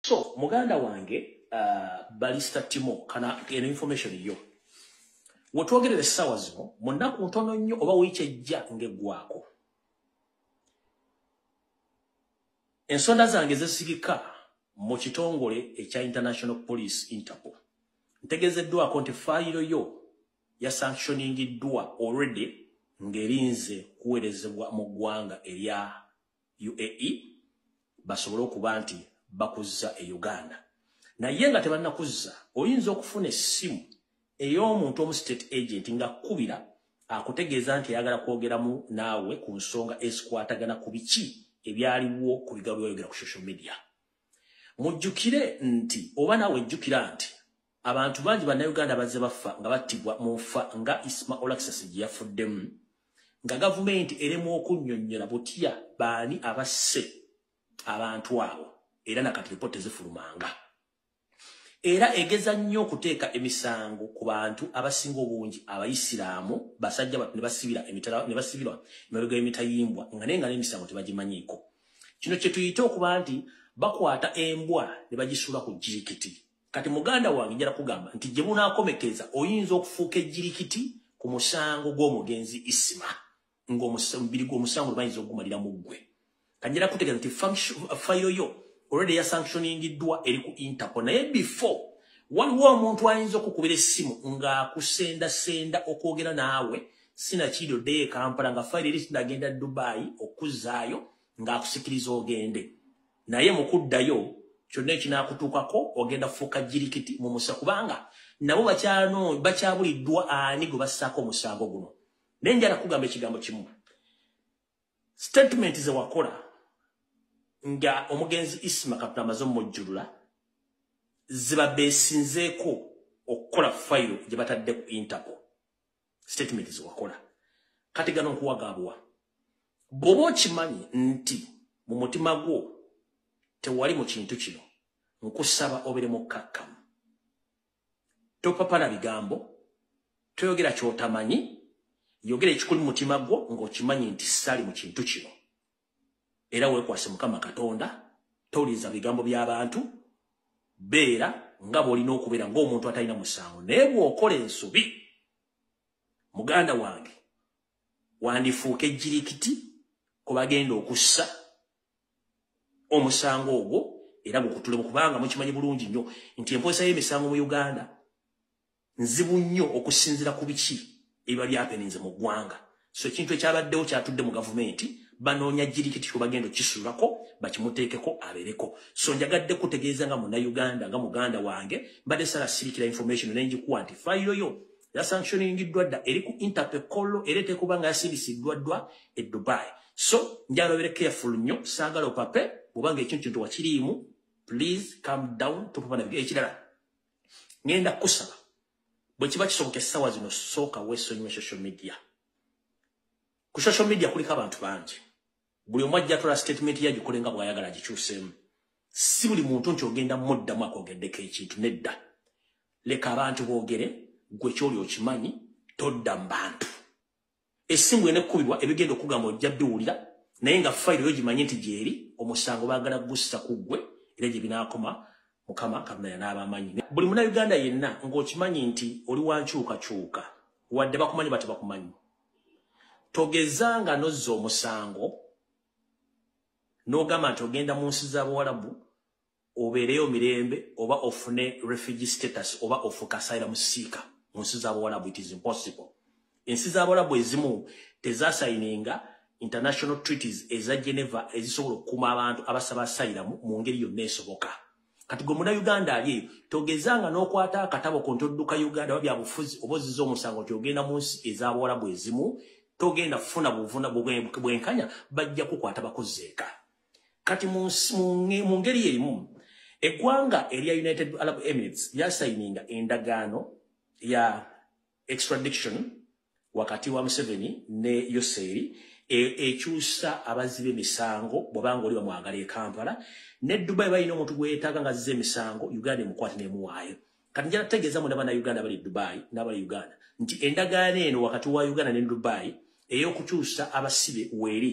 so muganda wange uh, balista timo kana eno information yo wetwogerera essaawa zino mu nnaku ntono nnyo oba wiiki ejja ng'eggwako ensonda zange zesigika mu kitongole ekya international police interpol ntegezeddwako nti fayiro yo yasanctioningiddwa already ng'erinze kuweerezebwa mu ggwanga erya uae basobole okuba nti bakuzza e uganda naye nga tebannakuzza oyinza okufuna essimu ey'omuntu omu state agent nga kkubira akutegeeza nti ayagala kwogeramu naawe ku nsonga ezikwatagana ku biki ebyaliwo ku bigawo byayogera ku social media mujjukire nti oba naawe jjukira nti Abantu bangi bannayuganda bazze baffa nga battibwa mu nfa nga Isma Olaxes gye yafuddemu nga gavumenti eremu okunnyonnyola butya baani abasse abantu abo era nakati lipoota ezifulumanga era egeza nnyo okuteeka emisango ku bantu abasinga obungi abayisiraamu basajja batu ne basibira emitala ne basibirwa emabega y'emitayimbwa nga naye nga n'emisango tebagimanyiiko kino kye tuyite okuba nti bakwata embwa ne bagisuula ku jirikiti Kati muganda wange njala kugamba nti gye bunaakomekereza oyinza okufuuka ejjirikiti ku musango gw'omugenzi isima ng'omubiri gw'omusango lwebayinza okugumalira mu ggwe kanjala kutegeeza nti fayiro yo olwedde ya sanctioningiddwa eri ku interpol naye before waliwo omuntu ayinza okukubira essimu ng'akusendasenda okwogera naawe sinakiiri oddeyo ekampala nga fayiro eri sinagenda dubai okuzaayo ng'akusikiriza ogende naye mukuddayo kyonna ekinakutuukako ogenda kufuuka jirikiti mu musa kubanga nabo bakyabuliddwa ani gwe bassaako omusango guno naye njala kugamba ekigambo kimu statement ze wakola nga omugenzi isima katonda amaze omumujjulula ziba beesinzeeko okukola fayiro gye batadde ku interpol statement zewakola kati gano nkuwagabwa bwoba okimanyi nti mu mutima gwo tewali mu kintu kino nkusaba obere mukkakkamu topapana bigambo toyogera kyotamanyi yogera ekikuli mutima gwo ng'okimanyi nti sali mu kintu kino era wekwase mukama katonda tolinza bigambo by'abantu beera nga bw'olina okubeera ng'omuntu atalina musango naye bw'okola ensobi muganda wange wandifuuka ejjirikiti ku bagenda okussa omusango ogwo era gukutulemu kubanga mukimanyi bulungi nnyo nti emposa y'emisango mu uganda nzibu nnyo okusinzira ku biki ebiba byapeninze mu ggwanga so ekintu ekyabaddewo kyatudde mu gavumenti banoonya jirikiti kyobagenda okisulako bakimuteekeko abeereko so njagadde kutegeeza nga munauganda nga muganda wange mbadde sala sirikira information nengikuwa nti fayiro yo yasanctioningiddwa dda eri ku interpecolo era etekuba nga yasindisiddwa ddwa e dubai so njalobere careful nnyo saagala opape obanga ekintu kintu wakiriimu please come down topapa nabyo ekirala ngenda kusaba bwe kiba kisoboka essaawa zino sooka weesonyiwe social media ku social media kuliko abantu bangi buli omu ajja tola statement yagikole nga bw'ayagala gikyuseemu si buli muntu nti ogenda muddamu akwogeddeko ekintu nedda leka abantu boogere gwe kyoli okimanyi todda mu bantu esimu ene kubibwa ebigendo kugamba ojja biwulira naye nga file yo gimanye nti gyeri omusango bagala gussa kuggwe era gye binakoma mukama katonda yanaaba amanyi buli muna uganda yenna ng'okimanyi nti oli wankyukakyuka wadde bakumanyi bati bakumanyi togeza nga nozza omusango n'ogamba nti ogenda mu nsi z'abawalabu obeereyo mirembe oba ofune refugee status oba ofukasayira musiika mu nsi zabawalabu it is impossible ensi zabawalabu ezimu tezasayininga international treaties eza geneva ezisobola okukuuma abantu abasaba asayira mu ngeri yonna esoboka kati gwe muna uganda ali eyo togezanga n'okwata akatabo konti odduka uganda oba byabufuzi oba oziza omusango nti ogenda mu nsi ezabawalabu ezimu togenda funa buvuna bwenkanya bajja kukwata bakuzeeka kati mu ngeri erimu eggwanga erya united arab emirates lyasayininga endagaano ya extradiction wakati wa museveni ne yoseeri e, ekyusa abazzi b'emisango bwobanga oli bamwagala e kampala ne dubai balina omuntu gweyetaaga nga azza emisango uganda emukwate nemuwaayo kati njala tutegeeza muna bana uganda bali dubai nabali uganda nti endagaano eno wakati wa uganda ne dubai eyokukyusa abasibe weeri